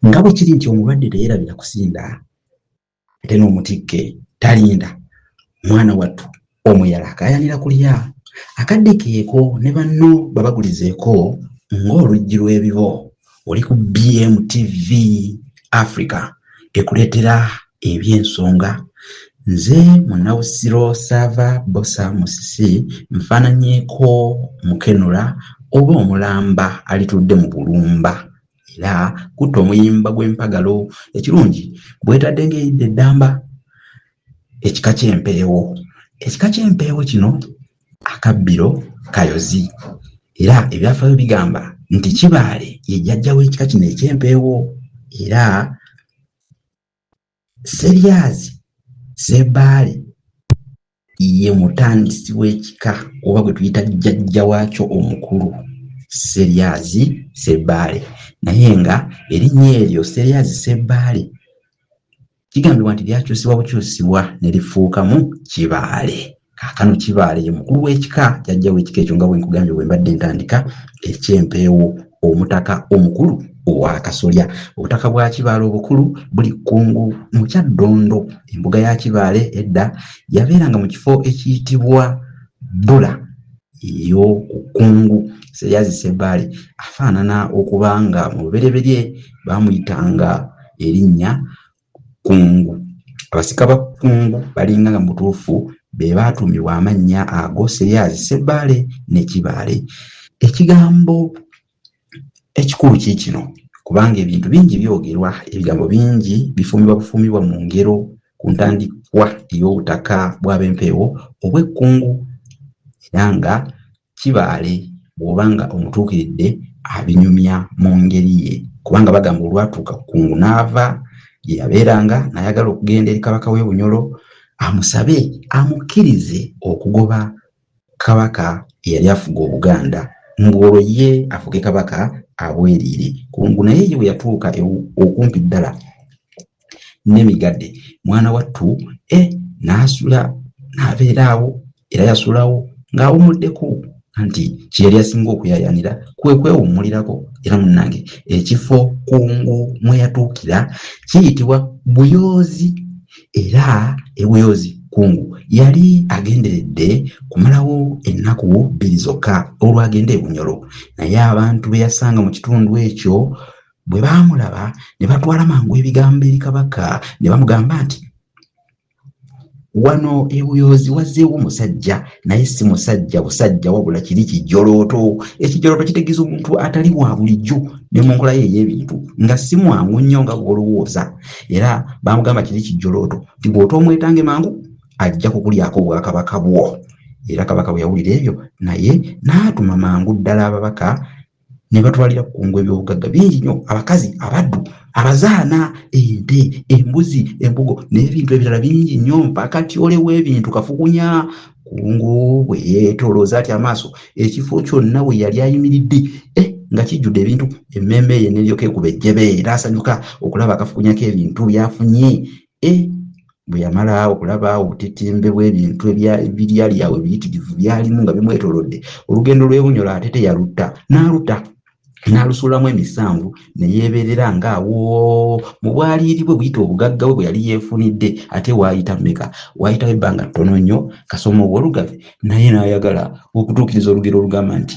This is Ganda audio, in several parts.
nga bwe kiri nti omulwadde teyerabira kusinda ate n'omutikke talinda mwana wattu omuyala akayanira kulya akadde keeko ne banno babagulizeeko ng'oluggi lw'ebibo oli ku bmtv africa ekuleetera eby'ensonga nze munawusiro saava bosa musisi nfaananyeeko mukenula oba omulamba alitudde mu bulumba era kutta omuyimba gw'empagalo ekirungi bwetadde ng'eyidde eddamba ekika ky'empeewo ekika ky'empeewo kino akabbiro kayozi era ebyafaayo bigamba nti kibaale ye jjajja w'ekika kino eky'empeewo era seryazi sebaale ye mutandisi w'ekika oba gwe tuyita jjajja waakyo omukulu seryazi sebaale naye nga erinnya eryo seryazi sebaale kigambibwa nti lyakyusibwa bukyusibwa ne lifuukamu kibaale kaakano kibaale ye mukulu w'ekika jajja w'ekika ekyo nga bwe nkugambye bwe mbadde ntandika eky'empeewo omutaka omukulu owakasolya obutaka bwa kibaale obukulu buli kkungu mu kyaddondo embuga ya kibaale edda yabeeranga mu kifo ekiyitibwa bbula eyo ku kkungu seryazi sebbaale afaanana okuba nga mu lubereberye baamuyitanga erinnya Kkungu. Abasika ba Kkungu balinga nga mu butuufu be baatuumibwa amannya ago, Sseryazi, Ssebbaale ne Kibaale. Ekigambo ekikulu kiikino, kubanga ebintu bingi byogerwa, ebigambo bingi bifuumibwa bufuumibwa mu ngero ku ntandikwa ey'obutaka bw'Abempeewo obw'Ekkungu era nga Kibaale bw'oba nga omutuukiridde abinyumya mu ngeri ye kubanga bagamba olwatuuka ku kungu n'ava gye yabeeranga n'ayagala okugenda eri Kabaka w'e Bunyolo amusabe amukkirize okugoba Kabaka eyali afuga Obuganda ng'olwo ye afuge Kabaka abweriire. Kungu naye ye bwe yatuuka e, okumpi ddala nemigade mwana wattu e eh, naasula naabeeraawo era yasulawo ng'awummuddeko nti kye yali asinga okuyayanira kwe kwewummulirako era munnange ekifo kungu mwe yatuukira kiyitibwa buyoozi era ebuyoozi kungu yali agenderedde kumalawo ennaku bbiri zokka olwagenda ebunyolo naye abantu be yasanga mu kitundu ekyo Bwe baamulaba ne batwala mangu ebigambo eri kabaka ne bamugamba nti, Wano e Buyoozi wazzeewo musajja, naye si musajja busajja, wabula kiri kijolooto. Ekijolooto kitegeeza omuntu atali wa bulijjo ne mu nkola ye ey'ebintu, nga si mwangu nnyo nga bw'olowooza. Era baamugamba kiri kijolooto nti bw'otoomwetange mangu ajja kukulyako obwakabaka bwo. Era kabaka bwe yawulira ebyo, naye n'atuma mangu ddala ababaka ne batwalira ku kungwa ebyobugagga bingi nnyo abakazi abaddu abazaana ente embuzi embugo n'ebintu ebirala bingi nnyo mpaka tyole w'ebintu kafukunya kungu bwe yeetolooza ati amaaso ekifo kyonna we yali ayimiridde eh, nga kijjudde ebintu emmeeme ye neryoka ekuba ejjebe era asanyuka okulaba akafukunyako ebintu byafunye e bwe yamala okulaba obutitimbe bw'ebintu ebyali awo ebiyitirivu byalimu nga bimwetolodde olugendo lw'ebunyolo ate teyalutta n'aluta n'alusuulamu emisanvu ne yeebeerera ng'awo mu bwaliiri bwe buyita obugagga bwe bwe yali yeefunidde ate waayita meka waayitawo ebbanga ttono nnyo kasoma ow'olugavi naye n'ayagala okutuukiriza olugero olugamba nti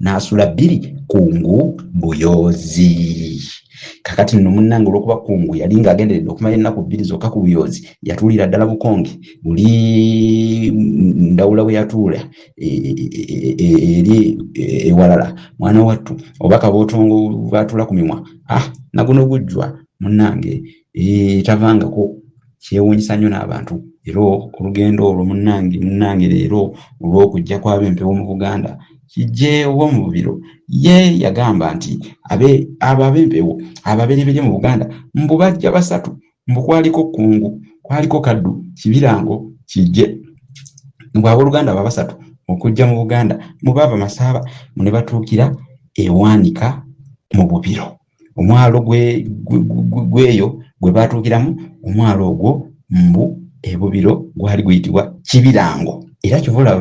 n'asula bbiri kungu buyoozi kakati nno munnange olwokuba kungu yali ng'agenderedde okumala ennaku bbiri zokka ku buyoozi yatuulira ddala bukonge buli ndawula bwe yatuula e, e, e, eri ewalala mwana wattu oba kabootongo bwatuula ku mimwa ah naguno gujjwa munnange tavangako kyewuunyisa nnyo n'abantu era olugendo olwo munnange munnange leero olw'okujja kwaba empewo mu buganda kijjeewo mu bubiro ye yagamba nti abo ab'empewo ababereberye mu buganda mbu bajja basatu mbu kwaliko kkungu kwaliko kaddu kibirango kijje mbu ab'oluganda aba basatu okujja mu buganda mubaava masaaba mu ne batuukira ewaanika mu bubiro omwalo gweyo gwe baatuukiramu omwalo ogwo mbu ebubiro gwali guyitibwa kibirango era kyova olaba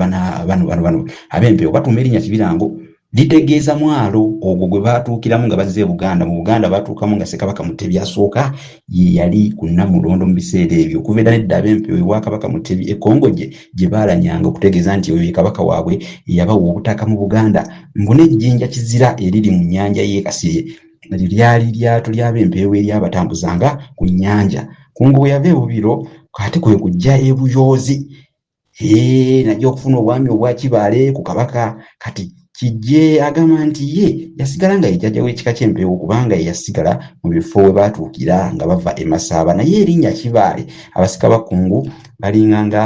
bano bano bano ab'empewo batuuma erinnya kibirango litegeeza mwalo ogwo gwe baatuukiramu nga bazze ebuganda mu buganda baatuukamu nga sekabaka mutebi asooka ye yali ku namulondo mu biseera ebyo okuva edda nedda ab'empewo ewa kabaka mutebi ekongojje gye baalanyanga okutegeeza nti oyo ye kabaka waabwe eyabawa obutaka mu buganda mbu n'ejjinja kizira eriri mu nnyanja y'e kasirye eryo lyali lyato ly'ab'empeewo eryabatambuzanga ku nnyanja kungu bwe yava ebubiro ate kwe kujja ebuyoozi naye okufuna obwami obwakibaale ku kabaka kati Kijje agamba nti ye yasigala nga ye jjajja w'ekika ky'Empeewo kubanga ye yasigala mu bifo we baatuukira nga bava e Masaaba naye erinnya Kibaale abasika ba Kkungu balinga nga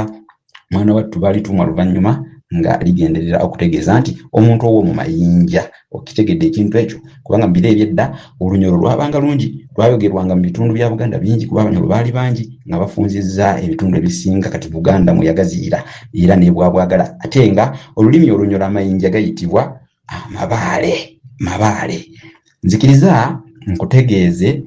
mwana wattu baalitumwa luvannyuma nga ligenderera okutegeeza nti omuntu ow'omu mayinja. Okitegedde ekintu ekyo? kubanga mu biro eby'edda olunyolo lwabanga lungi lwayogerwanga mu bitundu bya buganda bingi kuba abanyolo baali bangi nga bafunzizza ebitundu ebisinga kati buganda mwe yagaziira era nebwabwagala ate nga olulimi olunyolo amayinja gayitibwa amabaale mabaale nzikiriza nkutegeeze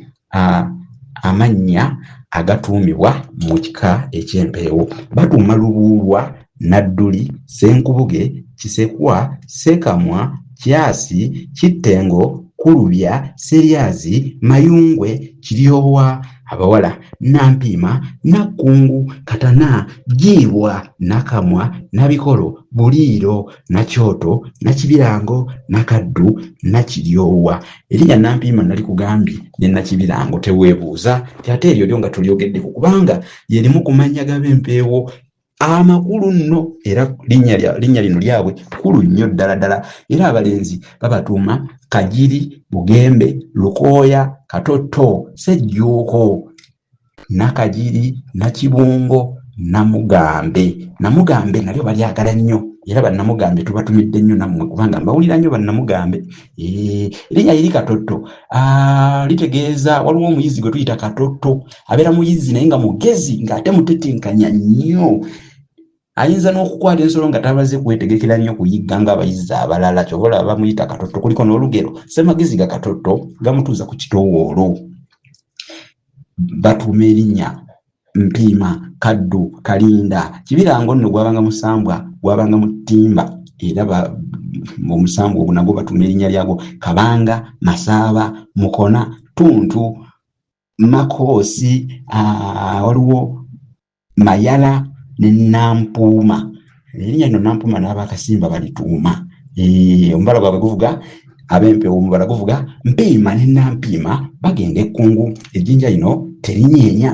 Amannya agatuumibwa mu kika eky'Empeewo. Batuuma Lubuulwa, Nadduli, Ssenkubuge, Kisekwa, Ssekamwa, Kyasi, Kittengo, Kulubya, Sseryazi, Mayungwe, Kiryowa, abawala, Nampiima, Nakkungu, Katana, Jjiibwa, Nakamwa, Nabikolo, Buliiro, Nakyoto, Nakibirango, Nakaddu, Nakiryowa. Erinya Nampiima nalikugambye ne Nakibirango teweebuuza nti ate eryo lyo nga tulyogeddeko kubanga lye limu ku mannya g'abempeewo amakulu nno era linnya lino lyabwe kkulu nnyo ddala ddala era abalenzi babatuuma Kagiri, Bugembe, Lukooya, Katotto, Ssejjuuko. Nakagiri, Nakibungo, Namugambe. Namugambe nalyo balyagala nnyo era bannamugambe tubatumidde nnyo nammwe kubanga mbawulira nnyo bannamugambe. Erinnya liri Katotto litegeeza waliwo omuyizi gwe tuyita Katotto abeera muyizi naye nga mugezi ng'ate mutetenkanya nnyo. ayinza n'okukwata ensolo nga tabaze kwetegekera nnyo kuyigga ng'abayizzi abalala kyova olaba bamuyita katotto kuliko n'olugero semagezi ga katotto gamutuuza ku kitoowoolo batuuma erinnya mpiima kaddu kalinda kibirango nno gwabanga musambwa gwabanga mu ttimba era omusambwa ogwo nagwo batuuma erinnya lyagwo kabanga masaaba mukona ttuntu makoosi waliwo Mayala ne Nampuuma erinnya lino Nampuuma n'abakasimba balituuma eh, omubala gwabwe guvuga ab'empewo omubala guvuga mpiima ne Nampiima bagenda ekkungu ejjinja lino terinyeenya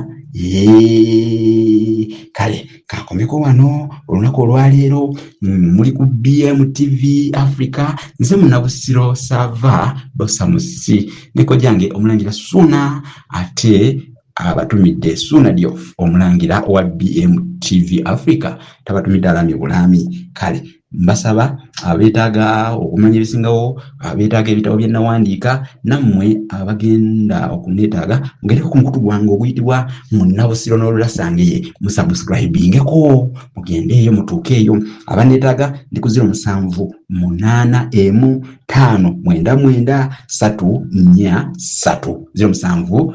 kale kakomeko wano olunaku olwaleero mm, muli ku bmtv africa nze munabusiro sava bosamusi nekojange omulangira suna ate abatumidde Suuna Diouf omulangira wa BMTV Africa tabatumidde alaamye bulaami kale mbasaba abeetaaga okumanya ebisingawo abeetaaga ebitabo bye nnawandiika nammwe abagenda okunneetaaga mugereko ku mukutu gwange oguyitibwa munnabusiro n'olulasangeye musubscribingeko mugende eyo mutuuke eyo abanneetaaga ndi ku ziro musanvu munaana emu ttaano mwenda mwenda satu nnya satu ziro musanvu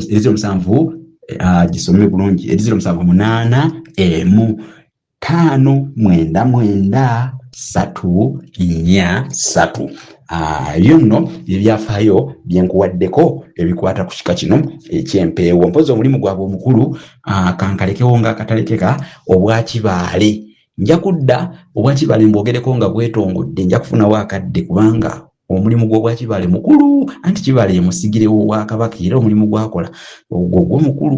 eziro musanvu ah, gisome bulungi eziro musanvu munaana emu taano mwenda mwenda satu nnya satu ah, ebyo nno byebyafaayo byenkuwaddeko ebikwata ku kika kino ekyempeewo mpozi omulimu gwabwe omukulu ah, kankalekewo nga akatalekeka obwakibaale nja kudda obwakibale mbwogereko nga bwetongodde nja kufunawo akadde kubanga omulimu gw'obwakibale mukulu anti kibale emusigirewo wakabaka era omulimu gwakola ogwo gwo mukulu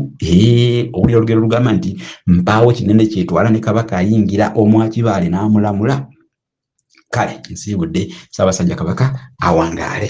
owulira olugero lugamba nti mpaawo kinene kyetwala ne kabaka ayingira omwakibale n'amulamula kale nsiibudde ssaabasajja kabaka awangaale